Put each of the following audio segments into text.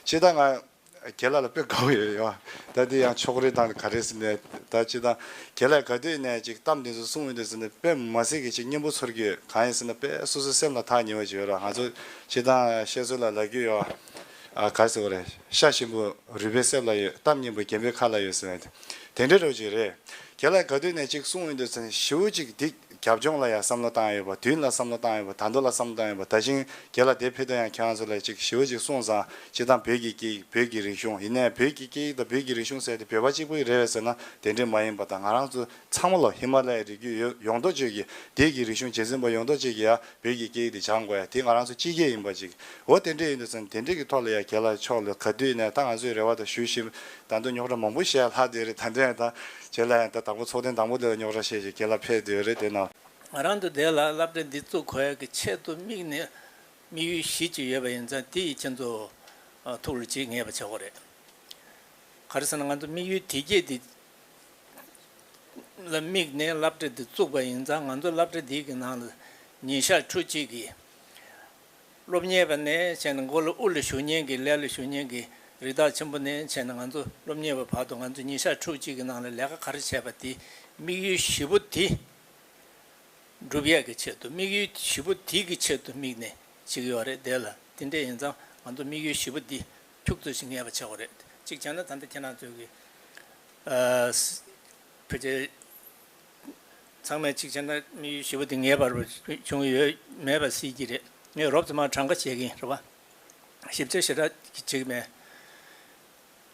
ཕྱི་ད་ང་ཁྱེད་ལ་ལ་དཔེ་དགའ་བོ་ཡོད་ཡོད་ད་འདི་ཡང་ཕྱོགས་རེ་དང་ག་རེ་ཟེར་ནས་ད་ཕྱི་ད་ཁྱེད་ལ་ག་དུས་ནས་ཅིག་གཏམ་འདི་ཚོ་གསུང་འོས་འདུག་ཟེར་ནས་དཔེ་མ་གཟིགས་ཀྱི་ཅིག་སྙན་པོ་ཚོར་གྱི་ཡོད་གང་ཡིན་ཟེར་ན་དཔེ་སོ་སོའི་སེམས་ལ་ཐག་ཉེ་བ་ཅིག་ཡོད་ར་ང་ཚོ་ཕྱི་ད་བཤད་སྲོལ་ལ་ལ་རྒྱུས་ཡོད་ཨ་ག་ཟེར་བ་རེད་ཤ་ཞིམ་པོ་རུས་པའི་གསེབ་ལ་ཡོད་གཏམ་སྙན་པོ་རྒན་པོའི་ཁ་ལ་ཡོད་ཟེར་ནས་དེ་འདྲའི་རོ་ཅིག་རེད་ཁྱེད་ལ་ག་དུས་ནས་ཅིག་གསུང་འོས་འདུག་ཟེར་ནས་བྱིའུ་ཅིག་སྡིག། རྒྱབ་ལྗོངས་ལ་ཡང་བསམ་བློ་བཏང་ཡོད་པ་དུས་ཡུན་ལ་བསམ་བློ་བཏང་ཡོད་པ་དར་མདོ་ལ་བསམ་བློ་བཏང་ཡོད་པ་ད་ཞིང་རྒྱལ་ལ་དེ་ཕེབས་དོན་ཡང་ཁྱེད་རང་ཚོ་ལས་ཅིག་ཞི་བ་ཅིག་གསུངས་ཙང་སྤྱི་བཏང་བོད་ཀྱི་སྐད་ཡིག་བོད་ཀྱི་རིག་གཞུང་ཡིན་ནའི་བོད་ཀྱི་སྐད་ཡིག་དང་བོད་ཀྱི་རིག་གཞུང་ཟེར་ཏེ་བོད་པ་གཅིག་པོ་ཡི་རེད་བས་ཟེར་ན་དེ་འདྲས་མ་ཡིན་པ་དང་ང་རང་ཚོ་ཚང་མ་ལ་ཧི་མ་ལ་ཡའི་རིགས་རྒྱུད་ཡོད་ཡོང་ཐོག་ཆོས་ཀྱི་དད་ཀྱི་རིག་གཞུང་རྗེས་འཛིན་པ་ཡོང་ཐོག་ཅིག་གིས་ཡང་བོད་ཀྱི་སྐད་ཡིག་དེ་སྦྱང་དགོས་ཡ་དེ་ང་རང་ཚོ་སྤྱི་སྐད་ཡིན་པ་ཅིག་འོ་དེ་འདྲས་ཡིན་དུ་ཟེར་ན་དེ་འདྲས་ཀྱི་ཐོག་ལ་ཡང་རྒྱལ་ལ་ཕྱོགས་ལ་ག་དུས་ནས་ད་ང་ཚོའི་རེ་བ་དང་ཞུ་བཞིན་ད་དུང་རྙོག་དྲ་མང་པོ་ཞིག་ལྷག་འདོད་རེད་ད་འདྲ་ཡང་དང་བྱས་ལ་ཡང་ད་དང་པོ་ཚོགས་ཐེངས་དང་པོ་འདི་ལ་རྙོག་དྲ་ཤས་ཤིག་གྱེས་ལ་འཕེལ་འདོད་རེད་དེ་ན། ང་རང་འདུ་འདེགས་ལ་བསླབ་གྲྭ་འདི་བཙུགས་གོ་ཡག་གི་ཆེད་དུ་དམིགས་ནས་དམིགས་ཡུལ་བཞི་ཅིག་ཡོད་པ་ཡིན་ཙང་དེ་ཡི་ཆེད་དུ་ཐུགས་ལ་བརྗེད་ངེས་པ་ཆགས་གོ་རེད། ག་རེ་ཟེར་ན་ང་ཚོ་དམིགས་ཡུལ་དེ་བརྒྱད་འདི་ལ་དམིགས་ནས་བསླབ་གྲྭ་འདི་བཙུགས་པ་ཡིན་ཙང་ང་ཚོ་བསླབ་གྲྭ་འདི་གི་ནང་ལ་ཉིན་ཞག་ཁྲུ་གཅིག་གི་སློབ་གཉེར་བ་ནས་བྱས་ནས་མགོ་ལ་དབུ་ལ་ཞུགས་ཉིན་གྱི་ལས་ལ་ཞུགས་ཉིན་གྱི་རི་དྭགས་ཆེན་པོ་ནས་བྱས་ནས་ང་ཚོ་སློབ་གཉེར་བའི་བར་དུ་ང་ཚོས་ཉིན་ཞག་ཕྲུགས་གཅིག་གི་ནང་ལ་ལས་ཀ་ག་རེ་བྱས་པ་དེའི་དམིགས་ཡུལ་བཞི་པོ་དེ། སྒྲུབ་ཡས་ཀྱི་ཆེད་དུ་དམིགས་ཡུལ་བཞི་པོ་དེ་གི་ཆེད་དུ་དམིགས་ནས་བྱེད་ཀྱི་ཡོད་རེད་དེ་ལ་དེ་འདྲས་ཡིན་ཙང་ང་ཚོ་དམིགས་ཡུལ་བཞི་པོ་འདི་ཁྱུག་ཚོད་ཅིག་ངེས་པར་བྱེད་དགོས་རེད་གཅིག་བྱས་ན་ད་ལྟ་ཁྱེད་རང་ཚོའི་གི་ཕལ་ཆེར། ཚང་མས་ཅིག་བྱས་ན་དམིགས་ཡུལ་ཞེས་པ་དེ་ངེས་པར་བྱུང་གི་ཡོད་མེད་པ་སྲིད་ཀྱི་རེད། ངས་རོབ་ཙམ་མ་གྲངས་ཀ་བྱེད་ཀྱིན་རེད་བ། ཞིབ་ཆ་ཞེ་དྲག་བྱེད་ཀྱི་མེད།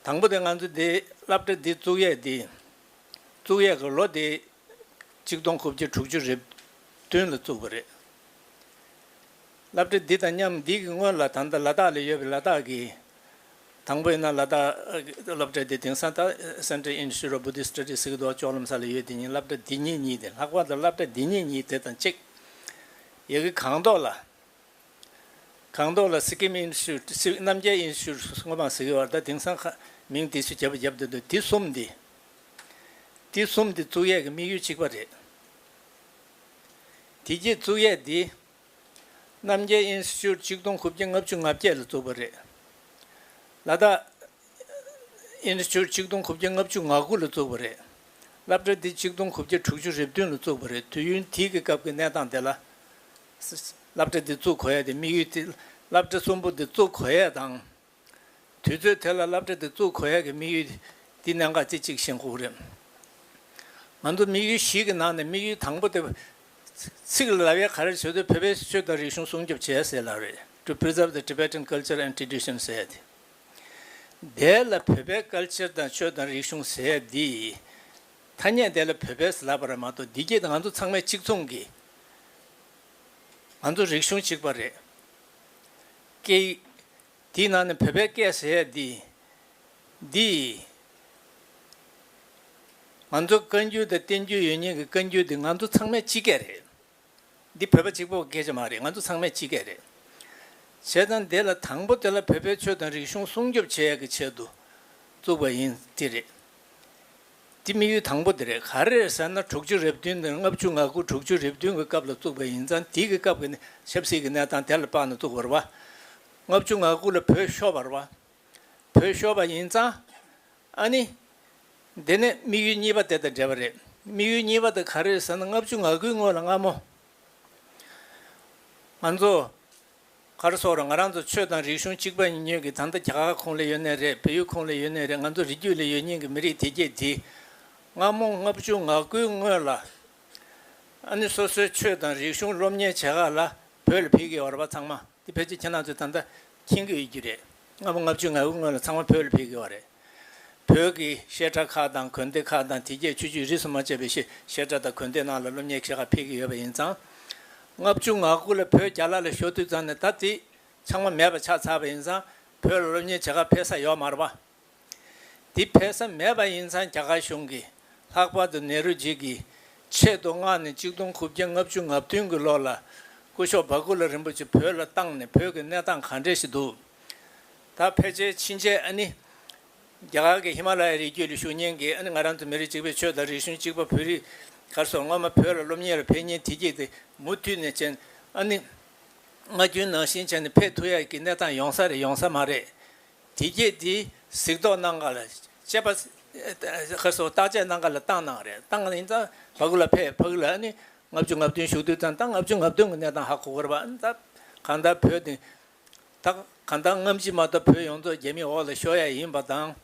དང་པོ་དེ་ང་ཚོ་འདི་སླབ་གྲ་འདི་བཙུགས་ཡས་འདི་བཙུགས་ཡས་ཀྱི་ལོ་དེ་གཅིག་སྟོང་དགུ་བརྒྱ་དྲུག་ཅུ་རེབ་བདུན་ལ་བཙུགས་པ་རེད། སླབ་གྲ་འདི་དང་མཉམ་འདི་གི་སྔོན་ལ་ད་ལྟ་ལ་དྭགས་ལ་ཡོད་པའི་ལ་དྭགས་ཀྱི་དང་པོ་ཡིན་ན་ལ་དྭགས་སློབ་གྲྭའི་དེ་དེང་སང་ད Central Institute of Buddhist Studies ཟེར་གྱི་འདུག་ལྕོག་ལམ་ས་ལ་ཡོད་དེ་གཉིས་སླབ་གྲྭ་འདི་གཉིས་གཉིས་ཏེ་ལྷག་པར་དུ་སླབ་གྲྭ་འདི་གཉིས་གཉིས་དེ་དང་གཅིག་ཡི་གེ་གང་མདོག་ལ་གང་མདོག་ལ Sikkim Institute སི་རྣམ་རྒྱལ Institute སྔོན་མ་ཟེར་གྱི་བར་ད་དེང་སང་ཁ་མིང་དེ་ཚོས་རྒྱབ་པ་རྒྱབ་དེ་འདུག་དེ་གསུམ་དེ་དེ་གསུམ་དེ་བཙུགས་ཡས་ཀྱི་དམིགས་ཡུལ་གཅིག་པ་རེད། དེ་རྗེས་བཙུགས་ཡས་དེ། རྣམ་རྒྱལ་ཨིན་སི་ཅུད་གཅིག་སྟོང་དགུ་བརྒྱ་ལྔ་བཅུ་ང་བརྒྱད་ལ་བཙུགས་པ་རེད། ལ་དྭགས་ཨིན་སི་ཅུད་གཅིག་སྟོང་དགུ་བརྒྱ་ལྔ་བཅུ་ང་དགུ་ལ་བཙུགས་པ་རེད། བསླབ་གྲྭ་འདི་གཅིག་སྟོང་དགུ་བརྒྱ་དྲུག་ཅུ་རེ་བདུན་ལ་བཙུགས་པ་རེད་དུས་ཡུན་དེའི་གི་སྐབས་ཀྱི་གནས་སྟངས་དེ་ལ། བསླབ་གྲྭ་འདི་བཙུགས་གོ་ཡས་དེ་དམིགས་ཡུལ་དེ་བསླབ་གྲྭ་གསུམ་པོ་འདི་བཙུགས་གོ་ཡས་དང། དུས་ཚོད་དེ་ལ་བསླབ་གྲྭ་འདི་བཙུགས་གོ་ཡ་གི་དམིགས་ཡུལ་འདི་ནས་འགའ་རྩེ་གཅིག་བཞེངས་ཁུག་རེད། ང་ཚོ་དམིགས་ཡུལ་བཞི་གི་ནང་ནས་དམིགས་ཡུལ་དང་པོ་དེ། ཚིག་ལ་ལབ་ཡ་ག་རེ་བྱེད་དུས་བོད་པའི་གཞི་ཆོས་དང་རིག་གཞུང་སྲུང་སྐྱོབ་བྱེད་ཡ་ཟེར་ལབ་རེད to preserve the Tibetan culture and tradition ཟེར་ཡ་དེ། དེ་ལ་བོད་པའི་སྐལ་ཆེར་དང་ཆོས་དང་རིག་གཞུང་ཟེར་ཡ་འདི། ཐ་སྙད་དེ་ལ་བོད་པས་ཟེར་ལབ་པ་རེད་མ་གཏོགས་འདི་སྐད་དུ་ང་ཚོ་ཚང་མས་གཅིག་མཚུངས་ཀྱིས། ང་ཚོ་རིག་གཞུང་གཅིག་པ་རེད། སྐད་ཡིག། དེའི་ནང་ནས་བོད་པའི་སྐད་ཟེར་ཡས་འདི། འདི། ང་ཚོ་བཀའ་འགྱུར་དང་བསྟན་འགྱུར་ཡོད་ཉེས་ཀྱི་བཀའ་འགྱུར་འདི་ང་ཚོ་ཚང་མའི་སྤྱི་སྐད་རེད། འདི་བོད་པ་གཅིག་པོ་སྐད་ཆ་མ་རེད་ང་ཚོ་ཚང་མའི་སྤྱི་སྐད་རེད། བྱས་ཙང་དེ་ལ་དང་པོ་དེ་ལ་བོད་པའི་ཆོས་དང་རིག་གཞུང་སྲུང་སྐྱོབ་བྱེད་ཡས་ཀྱི་ཆེད་དུ་བཙུགས་པ་ཡིན་དེ་རེད། འདི་དམིགས་ཡུལ་དང་པོ་དེ་རེད་ག་རེད་ཟེར་ན་དྲུག་ཅུ་རེ་བདུན་དང་ལྔ་བཅུ་ང་དགུ་དྲུག་ཅུ་རེ་བདུན་གྱི་སྐབས་ལ་བཙུགས་པ་ཡིན་ཙང་དེ་གི་སྐབས་ཀྱི་ཆབ་སྲིད་ཀྱི་གནས་སྟངས་དེ་ལ་དཔག་ནས་བཙུགས་པར་བ། ལྔ་བཅུ་ང་དགུ་ལ་བོད་ཤོར་བར་བ། བོད་ཤོར་བ་ཡིན་ཙང། ཨ་ནི། འདི་ནི་དམིགས་ཡུལ་གཉིས་པ་དེ་དང་འབྲེལ་བ་རེད་དམིགས་ཡུལ་གཉིས་པ་དེ་ག་རེད་ཟེར་ན་ལྔ་བཅུ་ང་དགུའི་སྔོན་ལ་སྔ་མོ། ང་ཚོ། མཁར་སོགས་རུ་ང་རང་ཚོ་ཆོས་དང་རིག་གཞུང་གཅིག་པ་ཉིད་ཉོན་གི་ད་ལྟ་རྒྱ་གར་ཁོང་ལས་ཡོད་ནའི་རེད་བལ་ཡུལ་ཁོང་ལས་ཡོད་ནའི་རེད་ང་ཚོ་རི་རྒྱུད་ལས་ཡོད་ཉིན་གི་མི་རིགས་དེ་རྒྱས་འདི། སྔ་མོ་ལྔ་བཅུ་ང་དགུའི་སྔོན་ལ། ཨ་ནི་སོ་སོའི་ཆོས་དང་རིག་གཞུང་སློབ་གཉེར་བྱེད་ཁག་ལ་བོད་ལ་ཕེབས་ཀི་ཡོད་རེད་བ་ཚང་མ་དེ་ཕལ་ཆེར་ཁྱེད་རང་ཚོས་ད་ལྟ་མཁྱེན་གི་ཡོད་རྒྱུ་རེད་སྔ་མོ་ལྔ་བཅུ་ང་དགུའི་སྔོན་ལ་ཚང་མ་བོད་ལ་ཕེབས་ཀི་ཡོད་རེད། བོད་ཀྱི་བཤད་གྲྭ་ཁག་དང་གོན་སྡེ་ཁག་དང་དེ་རྒྱས་ཆོས་བརྒྱུད་རིས་སུ་མ་ཆད་པའི་བཤད་གྲྭ་དང་གོན་སྡེ་ནང་ལ་སློབ་གཉེར་ཁྱེད་ཁ་འཕེལ་གྱི་ཡོད་པ་ཡིན་ཙང། ལྔ་བཅུ་ང་དགུ་ལ་བོད་རྒྱ་ལ་ལ་ཞོགས་དུས་ཙམ་ནས་ད་ལྟིད་ཆང་མ་མེད་པ་ཆགས་ཚར་བ་ཡིན་ཙང་བོད་ལ་སློབ་གཉེར་བྱེད་ཁ་འཕེལ་ས་ཡོད་མ་རེད་པ། དེ་འཕེལ་ས་མེད་པ་ཡིན་ཙང་རྒྱ་གར་གཞུང་གིས་ལྷག་པར་དུ་ནེ་རུ་ཇིག་གིས་ཆེད་དུ་སྔར་ནས་གཅིག་སྟོང་དགུ་བརྒྱ་ལྔ་བཅུ་ང་བདུན་གྱི་ལོ་ལ་སྐུ་ཞོགས་འབའ་ཀུ་ལ་རིན་པོ་ཆེ་བོད་ལ་བཏང་ནས་བོད་ཀྱི་གནས་སྟངས་ག་འདྲས་ཞིག་འདུག་ད་ཕལ་ཆེར་ཕྱིན་ཆད་ཨ་ནི། རྒྱ་གར་གྱི་ཧི་མ་ལ་ཡའི་རི་རྒྱུད་ལ་བཞུགས་ཉིན་གྱི་ཨ་ནི་ང་རང་ཚོ་མི་རིགས་གཅིག་པའི་ཆོས་དང་རིག་གཞུང་གཅིག་པ་བོད་རིགས་གར་སོང་སྔོན་མ་བོད་ལ་སློབ་གཉེར་ལ་ཕེབས་ཉིན་དེ་རྗེས་དེ་མུ་མཐུད་ནས་མཆན་ཨ་ནི། ངག་རྒྱུན་ནང་བཞིན་བྱས་ནས་ཕེབས་ཐུག་ཡ་གི་གནས་སྟངས་ཡོང་ས་རེད་ཡོང་ས་མ་རེད། དེ་རྗེས་དེའི་གཟིགས་རྟོག་གནང་ག་ལ་དཔྱད་པ་གར་སོང་བརྟག་དཔྱད་གནང་ག་ལ་བཏང་གནང་རེད་བཏང་གནང་ཡིན་ཙང་བྷ་གུ་ལ་ཕེབས་བྷ་གུ་ལ་ཨ་ནི་ལྔ་བཅུ་ལྔ་བདུན་བཞུགས་དུས་ཙང་ད་ལྔ་བཅུ་ལྔ་བདུན་གྱི་གནས་སྟངས་ཧ་གོ་གོ་རེད་བ་ཨ་ནི་ད་གང་ལྟར་བོད་དེ། དག་གང་ལྟར་རྔམ་བརྗིད་མ་ལྟར་བོད་ཡོངས་རྫོགས་རྒྱ་མིའི་འོག་ལ་ཤོར་ཡ་ཡིན་པ་དང།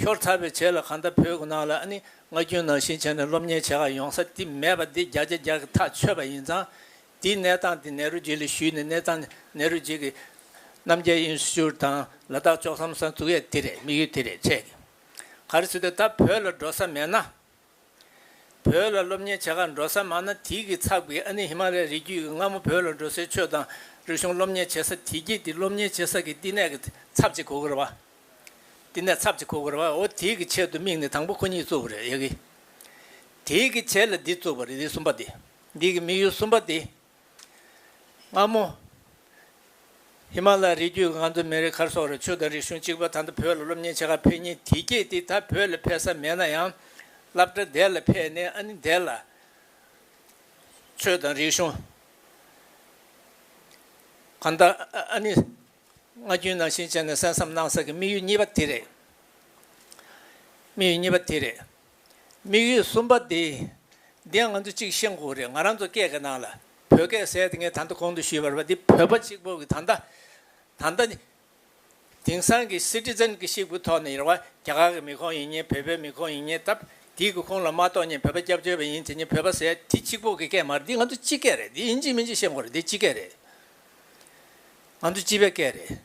ཤོར་ཚར་བའི་ཆེད་ལ་གང་ལྟར་བོད་ཁུ་ནང་ལ་ནི་ང་རྒྱུན་ནང་བཞིན་བྱས་ནས་སློབ་གཉེར་བྱེད་ཁག་ཡོང་ས་དེ་མེད་པ་འདི་བརྒྱ་ཆ་བརྒྱར་གྱི་ཐག་ཆོད་པ་ཡིན་ཙང། འདིའི་གནས་སྟངས་དེ་ནེ་རུ་ཇི་ལ་ཞུས་ནས་གནས་སྟངས་དེ་ནེ་རུ་ཇི་གི་རྣམ་རྒྱལ་ཨིན་སི་ཅུར་དང་ལ་དྭགས་ཅོག་བསམ་ས་འཛུགས་ཡས་དེ་རེད་དམིགས་ཡུལ་དེ་རེད་བྱས་ཀི། ག་རེ་སུ་དེ་ད་བོད་ལ་འགྲོ་ས་མེད་ན། བོད་ལ་སློབ་གཉེར་བྱེད་ཁར་འགྲོ་ས་མང་ན་དེའི་གི་ཚགས་པའི་ཨ་ནི་ཧི་མ་ལའི་རི་རྒྱུད་ཀྱི་སྔ་མོ་བོད་ལ་འགྲོ་སའི་ཆོས་དང་རིག་གཞུང་སློབ་གཉེར་བྱེད་ས་དེ་རྒྱུད་དེ་སློབ་གཉེར་བྱེད་ས་ཀྱི་བསྟི་གནས་ཀྱི་ཚབ་ཅིག་གོ་དགོས་རེད་བསྟི་གནས་ཚབ་ཅིག་གོ་དགོས་རེད་འོ་དེའི་གི་ཆེད་དུ་དམིགས་ནས་དང་པོ་ཁོ་གཉིས་བཙུགས་པ་རེད་ཡ་གི། དེའི་གི་ཆེད་ལ་འདི་བཙུགས་པ་རེད་འདི་གསུམ་པ་དེ་འདི་གི་དམིགས་ཡུལ་གསུམ་པ་དེ། སྔ་མོ། ཧི་མ་ལ་རི་རྒྱུད་ཀྱི་ང་ཚོ་མི་རེ་ཁར་སོག་རེ་ཆོས་དང་རིག་གཞུང་གཅིག་པ་ད་ལྟ་བོད་ལ་སློབ་གཉེར་བྱེད་ཁར་ཕེབས་ཉིན་དེ་སྐད་དེ་ད་བོད་ལ་ཕེབས་ས་མེད་ན་ཡང། བསླབ་གྲྭ་འདས་ལ་ཕེབས་ནས་ཨ་ནི་འདས་ལ། ཆོས་དང་རིག་གཞུང། གང་ལྟར་ཨ་ནི་སྔ་རྒྱུན་ནང་བཞིན་བྱས་ནས་གསན་བསམ་གནང་ས་ཀྱི་དམིགས་ཡུལ་གཉིས་པ་དེ་རེད། དམིགས་ཡུལ་གཉིས་པ་དེ་རེད། དམིགས་ཡུལ་གསུམ་པ་འདི། འདིའང་ང་ཚོ་གཅིག་ཤེས་དགོས་རེད་ང་རང་ཚོ་སྐད་ཀྱི་ནང་ལ་བོད་སྐད་གསལ་དེ་ངས་ད་ལྟ་གོང་དུ་ཞུས་པར་བ་འདི་བོད་པ་གཅིག་པོ་གི་ད་ལྟ། ད་ལྟ་ནི། དེང་སང་གི Citizen གི་ཤིག་པུ་ཐོག་ནས་ཡིན་ར་བ་རྒྱ་གར་གི་མི་ཁོང་ཡིན་ཉེན་བོད་པའི་མི་ཁོང་ཡིན་ཉེན་སྟབས་དེའི་གི་ཁོང་ལ་མ་གཏོགས་ཉེན་བོད་པ་སྐྱབས་བཅོལ་བ་ཡིན་དེ་ཉེན་བོད་པ་གསལ་དེ་གཅིག་པོ་གི་སྐད་མ་རེད་འདི་ང་ཚོ་སྤྱི་སྐད་རེད་འདི་ཡིན་གཅིག་མིན་གཅིག་ཤེས་དགོས་རེད་འདི་སྤྱི་སྐད་རེད། ང་ཚོ་སྤྱི་པའི་སྐད་རེད།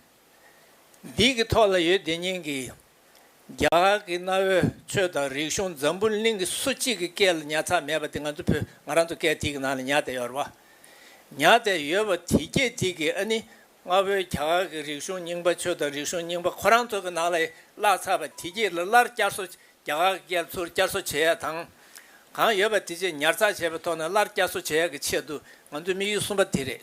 འདི་གི་ཐོག་ལ་ཡོད་དེ་སྙིང་གི། རྒྱ་གར་གྱི་གནའ་བོའི་ཆོས་དང་རིག་གཞུང་འཛམ་བུ་གླིང་གི་སུ་གཅིག་གི་སྐད་ལ་ཉར་ཚགས་མེད་པ་དེ་ང་ཚོ་བོད་ང་རང་ཚོ་སྐད་ཐིག་གི་ནང་ལ་ཉར་བསྡད་ཡོད་རེད་པ། ཉར་བསྡད་ཡོད་པ་དེ་སྐད་ཐིག་གིས་ཨ་ནི་གནའ་བོའི་རྒྱ་གར་གྱི་རིག་གཞུང་རྙིང་པ་ཆོས་དང་རིག་གཞུང་རྙིང་པ་ཁོ་རང་ཚོ་གི་ནང་ལ་བཀླགས་ཚར་བ་དེ་སྐད་ལ་སླར་བསྐྱར་གསོ་རྒྱ་གར་གྱི་སྐད་ལ་ཚུར་བསྐྱར་གསོ་བྱེད་ཡག་དང། གང་ཡོད་པ་དེ་བཅས་ཉར་ཚགས་བྱས་པའི་ཐོག་ནས་སླར་བསྐྱར་གསོ་བྱེད་ཡག་གི་ཆེད་དུ་ང་ཚོའི་དམིགས་ཡུལ་གསུམ་པ་དེ་རེད།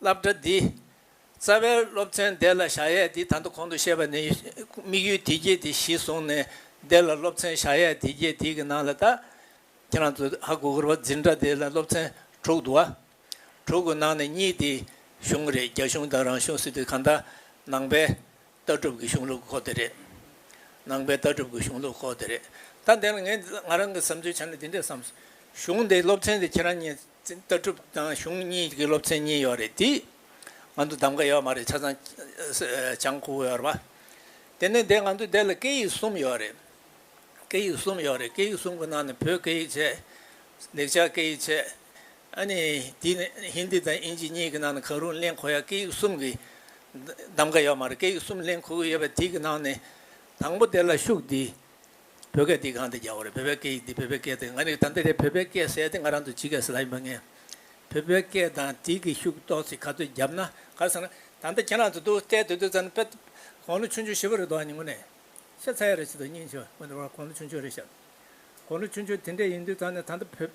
བསླབ་གྲྭ་འདི། རྩ་བའི་སློབ་ཚན་བདེ་ལ་བཞག་ཡས་འདི་ད་དོ་གོང་དུ་བཤད་པ་ནི་དམིགས་ཡུལ་དེ་རྒྱས་དེ་གཞི་བཟུང་ནས་བདེ་ལ་སློབ་ཚན་བཞག་ཡས་དེ་རྒྱས་དེ་གི་ནང་ལ་དག་ཁྱེད་རང་ཚོ་ཧ་གོ་གོ་རོ་འཛིན་གྲྭ་དེ་ལ་སློབ་ཚན་དྲུག་འདུག་ཨ། དྲུག་གི་ནང་ནས་གཉིས་དེ་གཞུང་རེད་རྒྱ་གཞུང་དང་རང་གཞུང་སྲིད་དེ་གང་དག་ནང་པའི་ལྟ་གྲུབ་ཀྱི་གཞུང་ལུགས་ཁོག་དེ་རེད། ནང་པའི་ལྟ་གྲུབ་ཀྱི་གཞུང་ལུགས་ཁོག་དེ་རེད། ད་འདི་ནི་ངས་ང་རང་གི་བསམ་ཚུལ་བྱས་ནས་འདི་འདྲས་བསམ། གཞུང་དེ་སློབ་ཚན་དེ་ཁྱེད་རང་གཉིས། ལྟ་གྲུབ་དང་གཞུང་གཉིས་ཀྱི་སློབ་ཚན་གཉིས་ཡོད་རེད་དེ། ང་ཚོ་གདམ་ག་ཡོད་མ་རེད་ཆ་ཚང་བྱང་ཁུ་ཡོད་རེད་མ། དེ་ནས་འདས་ང་ཚོ་འདས་ལ་སྐད་ཡིག་གསུམ་ཡོད་རེད། སྐད་ཡིག་གསུམ་ཡོད་རེད་སྐད་ཡིག་གསུམ་གྱི་ནང་ནས་བོད་སྐད་ཡིག་བྱས། ལེགས་ཆ་སྐད་ཡིག་བྱས། ཨ་ནི་དེ་ནས་ཧིན་དི་དང་དབྱིན་ཇི་གཉིས་ཀྱི་ནང་ནས་གང་རུང་གླེང་ཁོ་ཡ་སྐད་ཡིག་གསུམ་གྱི་གདམ་ག་ཡོད་མ་རེད་སྐད་ཡིག་གསུམ་གླེང་ཁུ་གུ་ཡོད་པ་དེ་གི་ནང་ནས་དང་པོ་དེ་ལ་ཤུགས་དེ། བོད་སྐད་འདི་གང་དུ་རྒྱག་བ་རེད་བོད་པའི་སྐད་ཡིག་འདི་བོད་པའི་སྐད་དེ་ང་ནི་དམ་པའི་རེད་བོད་པའི་སྐད་བསྲེས་ཏེ་ང་རང་དུ་ཇི་སྐད་ཟེར་ལ་ཡིན་པ་ངས་བོད་པའི་སྐད་དང་བྲིས་ཀྱི་ཤུགས་ཏོག་ཚིག་ག་ཚོད་རྒྱབ་ན་གར་སོང་ན་དམ་པའི་ཁྱེད་རང་ཚོ་འདུག་སྟེ་དུས་དུས་ཙམ་ནས་དཔེ་དགོང་ལོ་ཆུང་ཆུང་བཞི་བ་རེད་འདུག་ཨ་ཉི་ངོ་ནས་ཤ་ཚ་ཡ་རེད་བྱེད་འདུག་སྙིང་ཆེ་བ་འོན་ཏེ་དགོང་ལོ་ཆུང་ཆུང་རེད་ཤག་དགོང་ལོ་ཆུང་ཆུང་དེ་འདྲས་ཡིན་དུས་ཙམ་ནས་ད་ལྟ་བོད་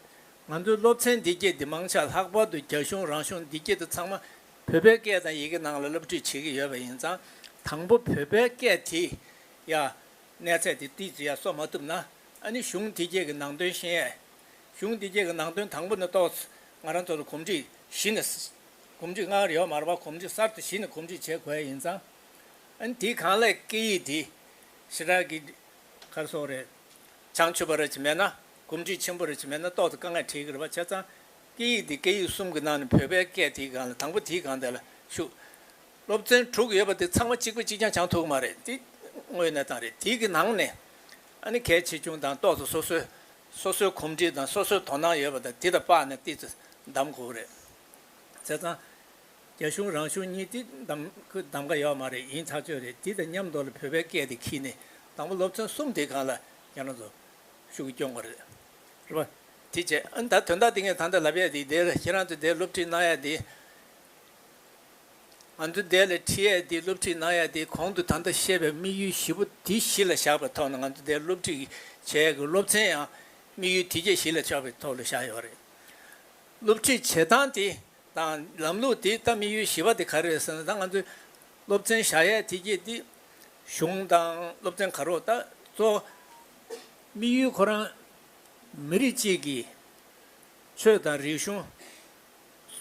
ང་ཚོའི་སློབ་ཚན་འདི་སྐད་འདི་མང་ཆག་ལྷག་པར་དུ་རྒྱ་གཞུང་རང་གཞུང་འདི་སྐད་དུ་ཚང་མ་བོད་པའི་སྐད་དང་ཡི་གེ་ནང་ལ་སློབ་ཁྲིད་བྱེད་ཀྱི་ཡོད་པ་ཡིན་ཙང་དང་པོ་བོད་པའི་སྐད་དེ་ཡ། གནས་ཚད་དེ་ཏིག་ཅི་ཡང་གསོག་མ་ཐུབ་ན་ཨ་ནི་གཞུང་འདི་སྐྱེས་ཀྱི་ནང་དོན་ཤེས་ཡས། གཞུང་འདི་སྐྱེས་ཀྱི་ནང་དོན་དང་པོ་ནི་རྟོགས་ཚུལ་ང་རང་ཚོ་ལ་གོམས་འདྲིས་གཞི་ནས་གོམས་འདྲིས་སྔར་ཡོད་མ་ར་བ་གོམས་འདྲིས་གསར་དུ་གཞི་ནས་གོམས་འདྲིས་བྱེད་དགོས་ཡས་ཡིན་ཙང། ཨ་ནི་དེའི་གང་ལེགས་སྐད་ཡིག་དེ་ཞི་དྲག་གི་གར་སོགས་རེད་བྱང་ཆུབ་པ་རེད་ཅེས་མེད་ན་གོམས་འདྲིས་ཆེན་པོ་རེད་ཅེས་མེད་ན་རྟོགས་དེ་དཀའ་ངལ་འཕྲད་ཀྱི་རེད་བ་བྱས་ཙང་སྐད་ཡིག་དེ་སྐད་ཡིག་གསུམ་གྱི་ནང་ནས་བོད་པའི་སྐད་དེའི་གང་ལེགས་དང་པོ་དེའི་གང་དེ་ལ་ཞུགས། སློབ་ཚན་དྲུག་ཡོད་པ་དེ་ཚང་མ་གཅིག་པུ་གཅིག་རྐྱང་བྱང་ཐུག་གི་མ་རེད་དེ་དངོས་གནས་དང་རེད་དེ་གི་ནང་ནས་ཨ་ནི་གལ་ཆེ་ཆུང་དང་ཏོག་ཙམ་སོ་སོའི་སོ་སོའི་གོམས་འདྲིས་དང་སོ་སོའི་དོ་སྣང་ཡོད་པ་དང་དེ་དང་པགས་ནས་ལྟིས་ཚུལ་གདམ་དགོས་པ་རེད། བྱས་ཙང་རྒྱ་གཞུང་རང་གཞུང་གཉིས་དེ་གདམ་ཁུ་གདམ་ག་ཡོད་མ་རེད་ཡིན་ཐག་ཆོད་རེད་དེ་དང་མཉམ་དོ་ལ་བོད་པའི་སྐད་དེ་ཁྱི་ནས་དང་པོ་སློབ་ཚན་གསུམ་དེ་གང་ལ་ཡང་ན་ཚོ་ཤུགས་ཀྱི་སྐྱོང་དགོས་རེད་རེད་པ། དེ་བྱས་ཨ་ནི་ད་དོན་དག་དེ་ངས་ད་ལྟ་ལབ་ཡས་དེ་དེར་ཁྱེད་རང་ཚོས་དེར་སློབ་ཁྲིད་གནང་ཡས་དེ། ང་ཚོ་འདས་ལོའི་ཁྲིད་ཡས་འདི་སློབ་ཁྲིད་གནང་ཡས་དེའི་གོང་དུ་ད་ལྟ་བཤད་པའི་དམིགས་ཡུལ་བཞི་པོ་དེ་གཞི་ལ་བཞག་པའི་ཐོག་ནས་ང་ཚོ་འདས་ལོའི་སློབ་ཁྲིད་ཀྱི་བྱས་ཡས་ཀྱི་སློབ་ཚན་ཡང་དམིགས་ཡུལ་དེ་བཅས་གཞི་ལ་བཞག་པའི་ཐོག་ལ་བཞག་ཡོད་རེད། སློབ་ཁྲིད་བྱེད་སྟངས་དེ་དང་ལམ་ལུགས་དེ་ད་དམིགས་ཡུལ་བཞི་པ་དེ་ག་རེ་རེད་ཟེར་ན་ད་ང་ཚོའི་སློབ་ཚན་བཞག་ཡས་དེ་བཅས་དེ་གཞུང་དང་སློབ་ཚན་ག་རོག་ད་གཙོ་བོ་དམིགས་ཡུལ་ཁོ་རང་མི་རིགས་གཅིག་གི་ཆོས་དང་རིག་གཞུང།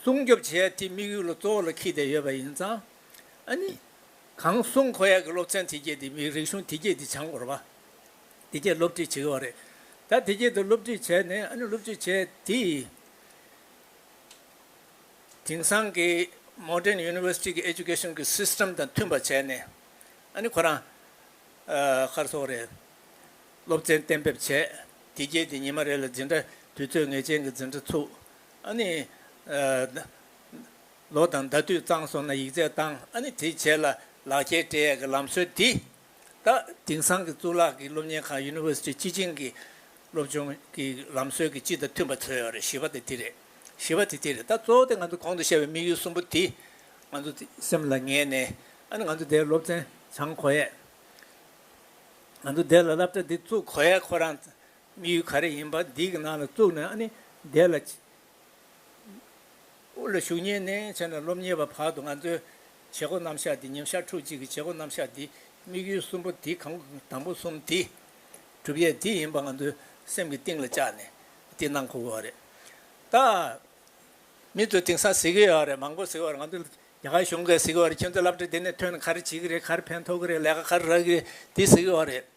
སྲུང་སྐྱོབ་བྱེད་ཡ་དེའི་དམིགས་ཡུལ་ལ་གཙོ་བོ་ལ་ཁྱི་དེ་ཡོད་པ་ཡིན་ཙང། ཨ་ནི། གང་སྲུང་ཁོ་ཡ་གི་སློབ་ཚན་དེ་སྐྱེས་དེ་མི་རིག་གཞུང་དེ་སྐྱེས་དེ་བྱང་བོར་བ། དེ་སྐྱེས་སློབ་ཁྲིད་བྱེད་གི་བ་རེད། ད་དེ་སྐྱེས་དེ་སློབ་ཁྲིད་བྱས་ནས་ཨ་ནི་སློབ་ཁྲིད་བྱས་དེ། དེང་སང་གི Modern University གི Education གི System དང་མཐུན་པ་བྱས་ནས་ཨ་ནི་ཁོ་རང། ཁར་སོག་རེད། སློབ་ཚན་གཏན་འབེབས་བྱས་དེ་སྐྱེས་དེ་ཉི་མ་རེ་ལ་འཛིན་གྲྭ་དུས་ཚོད་ངེས་ཅན་གི་འཛིན་གྲྭ་ཚུགས། ཨ་ནི། ལོ་དང་ཟླ་དུས་གཙང་སོང་ན་ཡིག་རྩལ་བཏང་ཨ་ནི་དེ་བྱས་ལ་ལག་འཁྱེར་སྤྲད་ཡས་ཀྱི་ལམ་སྲོལ་འདི། ད་དེང་སང་གི་གཙུག་ལག་གི་སློབ་གཉེར་ཁང University སྤྱི་ཆིངས་ཀྱི་སློབ་སྦྱོང་གི་ལམ་སྲོལ་གྱི་སྤྱི་དང་མཐུན་པ་འཚོལ་ཡོད་རེད་ཞི་བ་དེ་དེ་རེད་ཞི་བ་དེ་དེ་རེད་ད་གཙོ་བོ་དེ་ང་ཚོ་གོང་དུ་བཤད་པའི་དམིགས་ཡུལ་གསུམ་པོ་དེ་ང་ཚོ་སེམས་ལ་ངེས་ནས་ཨ་ནི་ང་ཚོ་དེའི་སློབ་ཚན་བྱང་གོ་ཡས། ང་ཚོ་དེ་ལ་བསླབ་གྲྭ་འདི་བཙུགས་གོ་ཡས་ཁོ་རང་དམིགས་ཡུལ་ག་རེ་ཡིན་པ་འདི་གི་ནང་ལ་བཙུགས་ནས་ནི་བསྡད་ལ། དབུ་ལ་ཞུགས་ཉེ་གནས་བྱས་ནས་སློབ་གཉེར་བའི་བར་དུ་ང་ཚོའི་བྱེད་སྒོ་རྣམ་གཞག་འདི་ཉིན་ཞག་ཕྲུགས་གཅིག་གི་བྱེད་སྒོ་རྣམ་གཞག་འདི་དམིགས་ཡུལ་གསུམ་པོ་འདི་གང་དང་པོ་གསུམ་འདི། གྲུབ་ཡས་འདི་ཡིན་པ་ང་ཚོའི་སེམས་ཀྱི་གཏིང་ལ་བཅག་ནས་འདི་གནང་དགོས་བ་རེད། ད་མི་ཚོ་དེང་སང་གཟིགས་ཡོད་རེད་མང་པོ་གཟིགས་བར་ང་ཚོ་རྒྱ་གར་གཞུང་ག་གཟིགས་བར་ཁྱོད་ཚོ་བསླབ་བྱ་འདི་ནས་ཐོན་ནས་ག་རེ་བྱེད་ཀྱི་རེད་ག་རེ་ཕན་ཐོགས་ཀྱི་རེད་ལས་ཀ་ག་རེ་རག་གི་རེད་འདི་གཟིགས་ཡོད་རེད།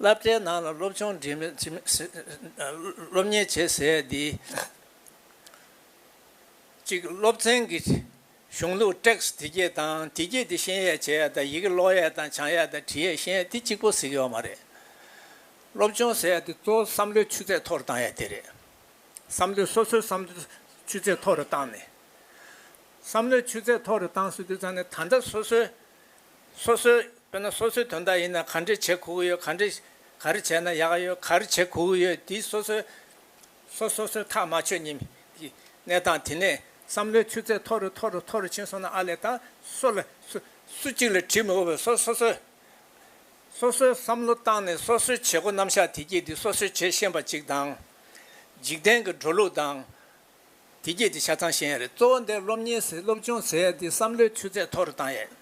བསླབ་གྲྭའི་ནང་ལ་སློབ་ཆུང་འགྲིམ་མི་སློབ་གཉེར་བྱེད་ཟེར་ཡས་འདི། གཅིག་སློབ་ཚན་གྱི་གཞུང་ལུགས Text དེ་སྐད་དང་དེ་སྐད་དེ་ཤེས་ཡས་བྱེད་ཡས་དང་ཡི་གེ་ཀློག་ཡས་དང་བྱང་ཡས་དང་བྲི་ཡས་ཤེས་ཡས་དེ་གཅིག་པོ་ཟིག་ཡོད་མ་རེད། སློབ་ཆུང་ཟེར་ཡས་དེ་གཙོ་བོ་བསམ་བློའི་ཆུ་ཚད་མཐོ་རུ་བཏང་ཡས་དེ་རེད། བསམ་བློའི་སོ་སོའི་བསམ་བློའི་ཆུ་ཚད་མཐོ་རུ་བཏང་ནས། བསམ་བློའི་ཆུ་ཚད་མཐོ་རུ་བཏང་ཟེར་དུས་ཚང་ནས་ད་ལྟ་སོ་སོའི། སོ་སོའི། དཔེར་ན་སོ་སོའི་དོན་དག་ཡིན་ན་ག་འདྲས་བྱེད་གོ་གི་ཡོད་ག་འདྲས། ག་རེ་བྱས་ན་ཡག་ག་ཡོད་ག་རེ་བྱེད་གོ་གི་ཡོད་དེའི་སོ་སོའི། སོ་སོ་སོའི་ཐག་མ་ཆོད་ཉིན་གྱི་གནས་སྟངས་དེ་ནས་བསམ་བློའི་ཆུ་ཚད་མཐོ་རུ་མཐོ་རུ་མཐོ་རུ་ཕྱིན་སོང་ན་ཨ་ལས་ད་སོ་ལ། སུ་གཅིག་ལ་དྲིས་མི་དགོས་པར་སོ་སོ་སོའི། སོ་སོའི་བསམ་བློ་བཏང་ནས་སོ་སོའི་བྱེད་སྒོ་རྣམ་གཞག་དེ་གྱིས་དེ་སོ་སོའི་བྱེད་ཤེས་པ་ཅིག་དང། འཇིག་རྟེན་གྱི་འགྲོ་ལུགས་དང། དེ་རྒྱས་ཀྱི་ཆ་ཚང་ཤེས་ཡས་རེད། གཙོ་བོ་འདིར་སློབ་གཉེར་ཟེར་སློབ་སྦྱོང་ཟེར་དེ་བསམ་བློའི་ཆུ་ཚད་མཐོ་རུ་བཏང་ཡས།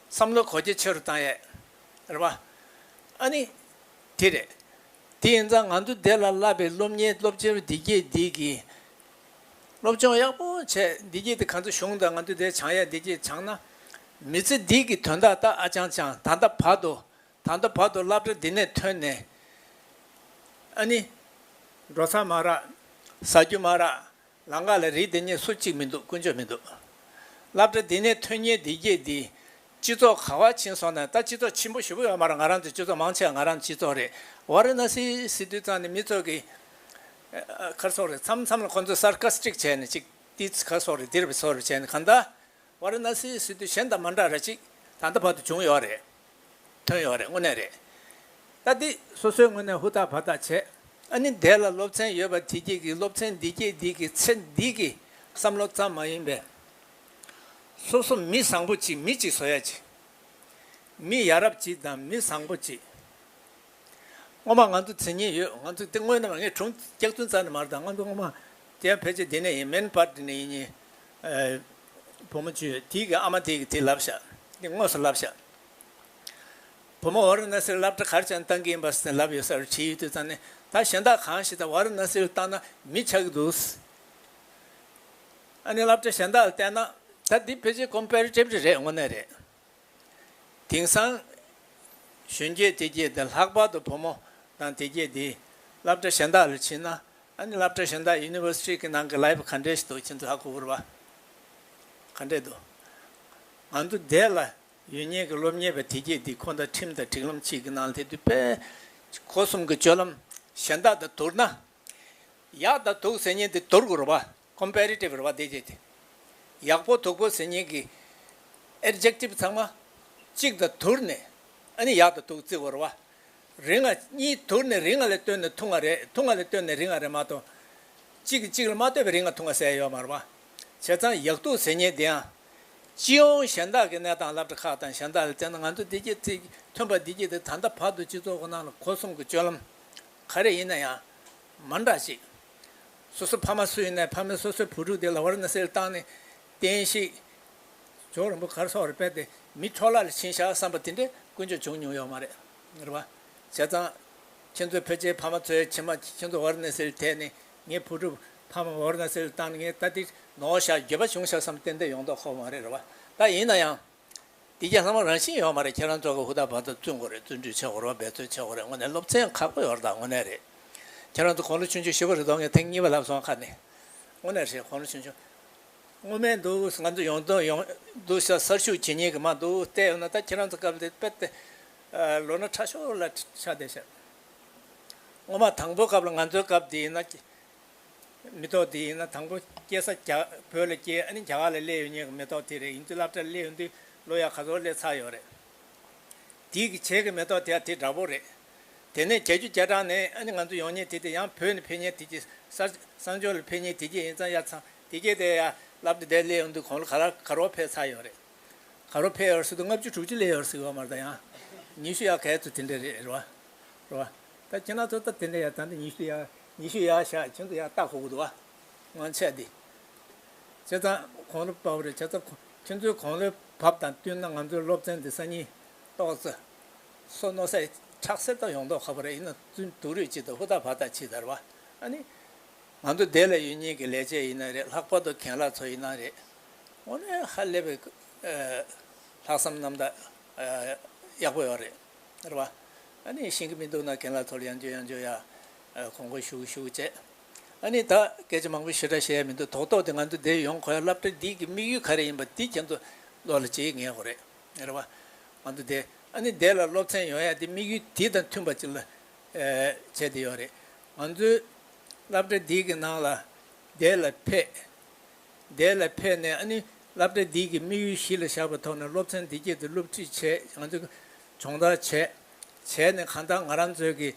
བསམ་བློ་གོ་རྒྱ་ཆེ་རུ་བཏང་ཡས། རེད་པ། ཨ་ནི། དེ་རེད། དེ་ཡིན་ཙང་ང་ཚོ་བདེ་ལ་བླ་པའི་སློབ་གཉེར་སློབ་སྤྱི་རུ་འདི་རྒྱས་འདི་གི། སློབ་སྦྱོང་ཡག་པོ་བྱས་འདི་རྒྱས་དེ་ག་ཚོད་བྱུང་དང་ང་ཚོ་བདེ་བྱང་ཡས་འདི་རྒྱས་བྱང་ན། མི་ཚེ་འདི་གི་དོན་དག་ད་ཨ་ཅང་ཅང་ད་ལྟ་བར་དུ་ད་ལྟ་བར་དུ་བསླབ་བྱ་འདི་ནས་ཐོན་ནས་ཨ་ནི། འགྲོ་ཚར་མ་རག། ཟ་རྒྱུ་མ་རག། ལང་ཀ་ལ་རིགས་དེ་གཉིས་སུ་གཅིག་མི་འདུག་ཀུན་སྤྱོད་མི་འདུག། བསླབ་བྱ་འདི་ནས་ཐོན་ཉེས་འདི་བསྐྱེད་འདི། སྤྱི་ཚོགས་ག་བར་ཕྱིན་སོང་ན་ད་སྤྱི་ཚོགས་ཆེན་པོ་ཞི་བོ་ཡོད་མ་རེད་ང་རང་ཚོའི་སྤྱི་ཚོགས་མང་ཆེ་བ་ང་རང་སྤྱི་ཚོགས་རེད། བ་རི་ན་སི་སི་དུས་ཙང་ནས་མི་ཚོགས་ཀྱི་ཁར་ཚོགས་རེད་མཚམས་མཚམས་ལ་ཁོང་ཚོས་སར་ཁ་སི་ཀྲིག་བྱས་ནས་ཅིག་ཏིས་ཁར་ཚོགས་རེད་འདིར་བ་ཚོགས་རེད་བྱས་ནས་གང་ལྟ། བ་ར་ན་སིའི་སི་ཏུ་གཞན་དང་མ་འདྲ་ར་ཅིག་ད་ལྟ་བར་དུ་བྱུང་ཡོད་རེད། ཐོན་ཡོད་རེད་དངོས་གནས་རེད། ད་འདི་སོ་སོའི་ངོས་ནས་ཧུར་ཐག་བར་ཐག་བྱས། ཨ་ནི་འདས་ལ་སློབ་ཚན་ཡོད་པ་དེ་སྐྱེས་ཀྱི་སློབ་ཚན་འདི་སྐྱེས་འདི་ཀྱི་ཚེ་འདི་ཀྱི་བསམ་བློ་ཙམ་མ་ཡིན་པས། སོ་སོ་མི་བཟང་པོ་ཅིག་མི་གཅིག་བཟོ་ཡ་ཅིག། མི་ཡ་རབས་ཅིག་དང་མི་བཟང་པོ་ཅིག། སྔོན་མ་ང་ཚོ་དེ་གཉིས་ཡོད་ང་ཚོ་དེ་དངོས་གནས་མ་ངས་དྲུང་སྐྱག་རྫུན་རྩ་ནས་མ་རེད་ད་ང་ཚོ་སྔོན་མ་དེ་ཕལ་ཆེར་དེ་ནས་ཡིན་མིན་པར་དེ་ནས་ཡིན་ཉིན། བུ་མོ་ཆུ་ཐིག་གི་ཨ་མ་དེ་གིས་དེ་ལབ་བཞག་དེ་དངོས་སུ་ལབ་བཞག། བུ་མོ་བ་ར་ན་སིར་ལབ་གྲ་གར་ཅན་བཏང་གི་ཡིན་པ་སེ་ལབ་ཡོད་ས་རུ་བྲིས་ཡོད་དུས་ཙང་ནི་ད་གཞན་དག་གང་ཞིག་ད་བ་ར་ན་སིར་བཏང་ན་མི་ཆགས་ཀྱི་འདུག། ཨ་ནི་ལབ་གྲ་གཞན་དག་ལ་བལྟས་ན་ད་འདི་ཕལ་ཆེར་ཀོམ་པེར་ཏེབ་རེ་རེད་དངོས་གནས་རེད། དེང་སང། གཞོན་སྐྱེས་དེ་སྐྱེས་དེ་ལྷག་པར་དུ་བུ་མོ་དང་དེ་སྐྱེས་དེས་སླབ་གྲྭ་གཞན་དག་ལ་ཕྱིན་ན། ཨ་ནི་སླབ་གྲྭ་གཞན་དག University གི་ནང་གི Life ག་འདྲས་ཤིག་འདུག་ཁྱེད་ཚོ་ལྷག་གོ་བུར་བ་ག་འདྲས་འདུག། ང་ཚོ་འདས་ལ་ཡོད་ཉེས་ཀྱི་སློབ་གཉེར་བས་དེ་སྐྱེས་དེ་ཁོ་དང་ཁྲིམས་དང་སྒྲིག་ལམ་གཅིག་གི་ནང་དེ་དུས་པས་གོ་གསུམ་གྱི་སྤྱོད་ལམ་གཞན་དག་དང་དུར་ན། ཡག་དང་དུག་ཟེར་ཉེན་དེ་དུར་གོ་རུ་བ། Comparative ར་བ་འདེད་བྱེད། ཡག་པོ་དུག་པོ་ཟེར་སྙིང་གི Adjective ཚང་མ་གཅིག་དང་དུར་ནས་ཨ་ནི་ཡག་དང་དུག་རྩི་བོར་བ། རི་ང་གཉིས་དུར་ནས་རི་ང་ལས་སྟོད་ནས་ཐུང་ང་རེད་ཐུང་ང་ལས་སྟོད་ནས་རི་ང་རེད་མ་གཏོགས་གཅིག་གིས་གཅིག་ལ་མ་ལྟོས་པའི་རི་ང་ཐུང་ང་ཟེར་ཡ་ཡོད་མར་བ། བྱས་ཙང་ཡག་དུག་ཟེར་སྙིང་འདི་ཡང། སྤྱི་ཡོངས་གཞན་དག་གི་གནས་སྟངས་བསླབ་གྲ་ཁག་དང་གཞན་དག་ལ་བཙན་ན་ང་ཚོ་བདེ་སྐྱིད་ཚེ་ཐོན་པ་བདེ་སྐྱིད་དེ་ད་ལྟ་བར་དུ་སྤྱི་ཚོགས་ཁོ་ན་ལ་གོ་གསུམ་གྱི་སྤྱོད་ལམ་ག་རེ་ཡིན་ན་ཡང་མ་འདྲ་ཞིག་སོ་སོ་ཕ་མ་སུ་ཡིན་ནས་ཕ་མས་སོ་སོའི་བུ་ཕྲུག་དེ་ལ་བར་ན་སེལ་བཏང་ནས། བསྟན་ཤིག། ཇོ་རིན་པོ་གར་སོགས་རེ་སྤེལ་ཏེ་མི་འཕྲོག་བླ་ལ་བྱིན་བཞག་བསམ་པ་དེ་འདྲའི་ཀུན་སྤྱོད་བྱུང་མྱོང་ཡོད་མ་རེད། རེད་པ། བྱས་ཙང། ཁྱེད་ཚོའི་བོད་ཆས་ཕ་མ་ཚོའི་ཁྱིམ་མ་ཁྱེད་ཚོ་བར་ན་སེལ་ཐད་ནས་ངའི་བུ་ཕྲུག་ཕ་མ་བར་ན་སེལ་བཏང་ནས་ངའི་ལྟ་དེ་ནོར་བཞག་འགྱོད་པ་བྱུང་བཞག་བསམ་ཏན་ཏན་ཡོང་མདོག་ཁོག་མ་རེད་རེད་པ། ད་ཡིན་ན་ཡང། འདི་རྒྱ་ལྷ་མོ་རང་བཞིན་ཡོད་མ་རེད་ཁྱེད་རང་ཚོ་གི་ཧུར་ཐག་བར་དུ་བརྩོན་དགོས་རེད་བརྩོན་འགྲུས་ཆེ་དགོས་རོགས་འབད་བརྩོན་ཆེ་དགོས་རེད་དངོས་གནས་སློབ་ཚན་ཁག་པོ་ཡོར་དང་དངོས་གནས་རེད་ཁྱེད་རང་ཚོ་གོང་ལོ་ཆུང་ཆུང་བཞི་པ་རེད་དོ་ངས་ཐེངས་གཉིས་པ་ལབ་སོང་ཁ་ནས་དངོས་གནས་རེད་གོང་ལོ་ཆུང་ཆུང་དངོས་སྨན་འདུག་ང་ཚོ་ཡོང་དོན་ཡོང་འདུག་ཤ་གསར་ཤུགས་ཇེ་ཉེ་གི་མ་འདུག་བལྟས་ཡོང་ན་ད་ཁྱེད་རང་ཚོ་སྐབས་འདི་དཔེར་བལྟས་ལོ་ན་ཕྲ་ཤོར་ལ་ཆགས་བསྡད་ཤག་དངོས་མ་དང་པོ་སྐབས་ལ་ང་ཚོའི་སྐབས་འདི་ཡིན་ན་མེ་ཏོག་དེ་ཡིན་ན་དང་པོ་སྐྱེས་ས་རྒྱ་བོད་ལ་སྐྱེས་ཨ་ནི་རྒྱ་གར་ལ་སླེ་ཡོད་ཉེས་ཀྱི་མེ་ཏོག་དེ་རེད་ཡིན་དུས་སླབ་གྲྭ་སླེ་ཡོད་དུས་ལོ་ཡག་ག་ཚོད་སླེ་ཚར་ཡོད་རེད། དེའི་གི་བྱས་ཀྱི་མེ་ཏོག་དེ་ཡང་དེ་འདྲ་བོ་རེད། དེ་ནས་རྒྱལ་རྒྱུ་རྒྱལ་དྲག་ནས་ཨ་ནི་ང་ཚོ་ཡོང་ཉེས་དེ་དེ་ཡང་བོད་ནས་ཕེབས་ཉེས་དེ་གྱི་སར་བསང་ཆོས་ལ་ཕེབས་ཉེས་དེ་གྱི་ཡིན་ཙང་ཡ་ཚང་དེ་གྱི་དེ་ཡ་སླབ་གྲྭ་དེ་སླེ་ཡོད་དུས་གོང་ལོ་ག་ལ་ག་རོག་ཕེབས་ཚར་ཡོད་རེད། ག་རོག་ཕེབས་ཡོད་སྲིད་དུས་ལྔ་བཅུ་དྲུག་ཅུ་སླེ་ཡོད་སྲིད་ཡོད་མ་རེད་ད་ཡང་ཉི་ཤུ་ཡ་ག་ཚོད་དེ་འདྲ་རེད་རེད་བ། རེད་བ། ད་ཁྱེད་ན་ཚོ་ད་དེ་འདྲ་ཡ་ད་འདྲ་ཉི་ཤུ་ཡ། ཉི་ཤུ་ཡར་བཞག་གྱེན་དུ་ཡང་སྟག་ཧོ་ཧུ་དུ་བ་ངང་ཆད་དེ། བྱས་ཙང་གོང་ལོ་བབས་རེད་བྱས་ཙང་ཁྱོད་ཚོའི་གོང་ལོའི་བབས་དང་བསྟུན་ན་ང་ཚོའི་སློབ་ཚན་འདི་སང་ཉིན་ཏོག་ཙེ། སོ་ནོ་སའི་ཁྲག་སེར་དང་ཡོང་མདོག་ཁ་པོ་རེད་ཡིན་ན་བཙུན་དུག་རུས་གཅིག་དང་ཧུར་ཐག་བར་ཐག་ཕྱིས་དར་བ་ཨ་ནི། ང་ཚོ་སྡེ་ལ་ཡོད་ཉེས་ཀྱི་ལས་བྱེད་ཡིན་ན་རེད་ལྷག་པར་དུ་གྱེན་ལྷག་ཚོ་ཡིན་ན་རེད། ངོ་ནས་ཧ་ལས་པའི། ལྷག་བསམ་རྣམ་དག། ཡག་པོ་ཡོད་རེད། ཨེ་རེད། ཨ་ནི་ཤེས་ཀྱི་མི་འདུག་ན་གན་ལ་ཐོར་ཡང་འཇོན་ཡང་འཇོན་ཡ། གོང་གོ་ཞུགས་ཞུགས་བྱས། ཨ་ནི་ད་སྐད་ཆ་མང་པོ་ཞེ་དྲག་ཤེས་ཡ་མི་འདུག་ཐོག་ཐོག་དེ་ང་ཚོ་འདིར་ཡོང་གོ་ཡ་བསླབ་གྲྭ་འདི་གི་དམིགས་ཡུལ་ག་རེ་ཡིན་པ་དེ་ཁྱེད་ཚོ་བློ་ལ་འབྱེད་ངེས་གོ་རེད། ཨེ་རེད། ང་ཚོ་འདི་ཨ་ནི་འདི་ལ་སློབ་ཚན་ཡོང་ཡ་དེ་དམིགས་ཡུལ་དེ་དང་མཐུན་པ་ཅིག་ལ་བྱས་དེ་ཡོད་རེད། ང་ཚོའི་བསླབ་གྲྭ་འདི་གི་ནང་ལ་འདི་ལ་ཕེབས། འདས་ལ་ཕེབས་ནས་ཨ་ནི་སླབ་གྲྭ་འདི་གི་དམིགས་ཡུལ་གཞི་ལ་བཞག་པའི་ཐོག་ནས་སློབ་ཚན་འདི་སྐྱེལ་ཏེ་སློབ་ཁྲིད་བྱས་ཡང་ཚུ་སྦྱོང་བརྡར་བྱས། བྱས་ནས་གང་ལྟར་ང་རང་ཚོའི་གི་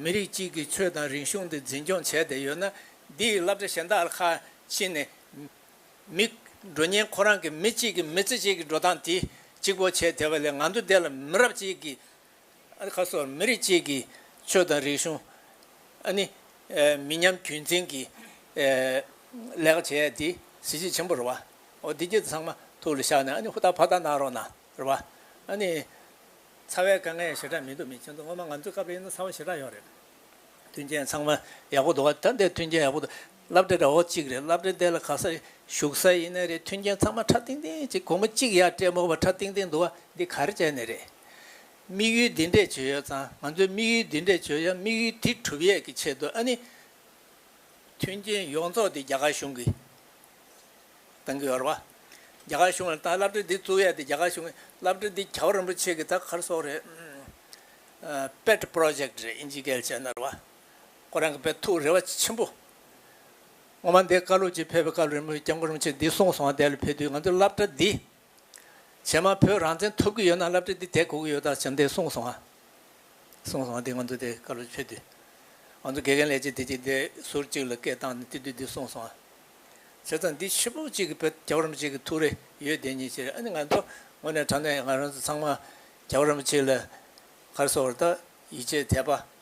མི་རིགས་གཅིག་གི་ཆོས་དང་རིག་གཞུང་འདི་འཛིན་སྐྱོང་བྱས་ཏེ་ཡོད་ན་འདི་ཡི་སླབ་གྲྭ་གཞན་དག་ལ་ཁ་ཕྱིན་ནས་མི་འགྲོ་ཉེན་ཁོ་རང་གི་མི་གཅིག་གི་མི་ཚེ་གཅིག་གི་འགྲོ་སྟངས་དེ་གཅིག་པོ་བྱས་དེ་བ་ལས་ང་ཚོ་འདས་ལ་མི་རབས་གཅིག་གི་ཁ་སོགས་མི་རིགས་བཅས་ཀྱི་ཆོས་དང་རིག་གཞུང། ནི། མི་ཉམས་རྒྱུན་འཛིན་གྱི། ལས་ཀ་བྱས་ཏེ་གཟི་བརྗིད་ཆེན་པོ་རུ། བ་འདི་སྐད་དུ་ཚང་མ་ཐུགས་ལ་བཞག་ནས་ཧུར་ཐག་ཕར་ཐག་གནང་རོགས་གནང། རུ། བ། ནི། ཚ་བའི་དཀའ་ངལ་ཞེ་དྲག་མི་འདུག་མི་ཆེན་འདུག་སྔོན་མ་ང་ཚོའི་སྐབས་རེ་ཡིན་ན་ཚ་བ་ཞེ་དྲག་ཡོད་རེད། མཐུན་རྐྱེན་ཚང་མ་ཡག་པོ་འདུག་བ་ད་འདི་མཐུན་རྐྱེན་ཡག་པོ་འདུག། བསླབ་གྲྭའི་ར་བ་གཅིག་རེད་བསླབ་གྲྭའི་འདས་ལ་ག་ས་རེད་བཞུགས་ས་ཡིན་ནའི་རེད་མཐུན་རྐྱེན་ཚང་མ་ཁྲ་ཏིང་ཏིང་གཅིག་གོང་མ་གཅིག་ཡར་སྤྲད་མོ་བ་ཁྲ་ཏིང་ཏིང་འདུག་བ་འདི་ག་རེ་བྱས་ནས་རེད། དམིགས་ཡུལ་འདི་འདྲས་བྱོས་ཡོད་ཙང་ང་ཚོས་དམིགས་ཡུལ་འདི་འདྲས་བྱོས་ཡ་དམིགས་ཡུལ་དེ་གྲུབ་ཡས་ཀྱི་ཆེད་དུ་ཨ་ནི། མཐུན་རྐྱེན་ཡོངས་རྫོགས་འདི་རྒྱ་གར་གཞུང་གིས་བཏང་གི་ཡོད་རེད་བ། རྒྱ་གར་གཞུང་ལ་བཏང་བསླབ་གྲྭ་འདི་བཙུགས་ཡས་དེ་རྒྱ་གར་གཞུང་གིས་བསླབ་གྲྭ་འདི་ག་བ་རིན་པོ་ཆེ་གི་ད་གར་སོགས་རེད། Pet Project རེད་ཨིན་ཇི་སྐད་བྱས་ན་རེད་བ། ཁོ་རང་གི་པའི་ཐུགས་རེ་བ་ཆེན་པོ། ངོ་མ་འདི་བཀའ་སློབ་ཅིག་ཕེབས་པའི་བཀའ་སློབ་རིང་མོ་སྐྱབས་མགོན་རིན་ཆེན་འདི་གསུངས་སོང་བ་དེ་ལ་ཕེབས་དུས་ང་ཚོས་བསླབ་གྲྭ་འདི། བྱེ་མ་བོད་རང་བཙན་ཐོབ་གི་ཡོད་ན་བསླབ་གྲྭ་འདི་དེ་གོ་གི་ཡོད་ད་བྱམས་འདི་གསུངས་སོང་བ། གསུངས་སོང་བ་དེ་ང་ཚོ་དེ་བཀའ་སློབ་ཕེབས་དུས། ང་ཚོ་དགེ་རྒན་ལས་བྱེད་དེ་གཅིག་དེ་ཟུར་གཅིག་ལ་སྐད་བཏང་ནས་བསྟི་དུས་འདི་གསུངས་སོང་བ། བྱས་ཙང་འདི་ཕྱི་ཕོ་གཅིག་གི་པའི་རྒྱ་བོ་རིན་པོ་ཆེ་གི་ཐུགས་རེ་ཡོད་དེ་ཉིད་ཕྱིར་ཨ་ནི་ང་ཚོ་ངོ་ནས་དྲང་གནས་ང་རང་ཚོ་ཚང་མ་རྒྱ་བོ་རིན་པོ་ཆེ་ལ་གར་སོ་བར་ད་ཡིད་ཆེས་དད་པ།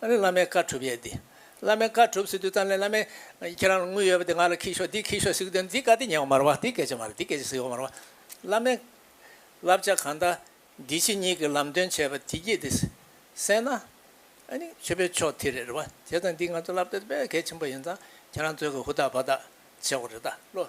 ཨ་ནི་བླ་མའི་བཀའ་གྲུབ་ཡས་འདི། བླ་མའི་བཀའ་གྲུབ་ཟེར་དུས་ཙམ་ལས་བླ་མས། ཁྱེད་རང་ལ་དངུལ་ཡོད་པ་འདི་ང་ལ་ཁྱི་ཤོག་འདི་ཁྱི་ཤོག་ཟེར་གི་དོན་འདི་བཀའ་དེ་ཉན་བ་མ་རུང་བ་འདི་སྐད་ཆ་མ་རུང་འདི་སྐད་ཆ་ཟེར་བ་མ་རུང་བ། བླ་མའི། བསླབ་བྱ་གང་དག། འདི་ཕྱི་གཉིས་ཀྱི་ལམ་སྟོན་བྱས་པ་དེ་སྐྱིད་དེ། སེང་ན། ཨ་ནི་ཆོས་པའི་ཕྱོགས་དེ་རེད་རེད་བ། དེ་ཙམ་འདི་ང་ཚོ་བསླབ་བྱ་དེ་དཔེ་གལ་ཆེན་པོ་ཡིན་ཙང་ཁྱེད་རང་ཚོས་ཀྱི་ཧུར་ཐག་བར་ཐག་བྱེད་དགོས་རེད་ད་བློ།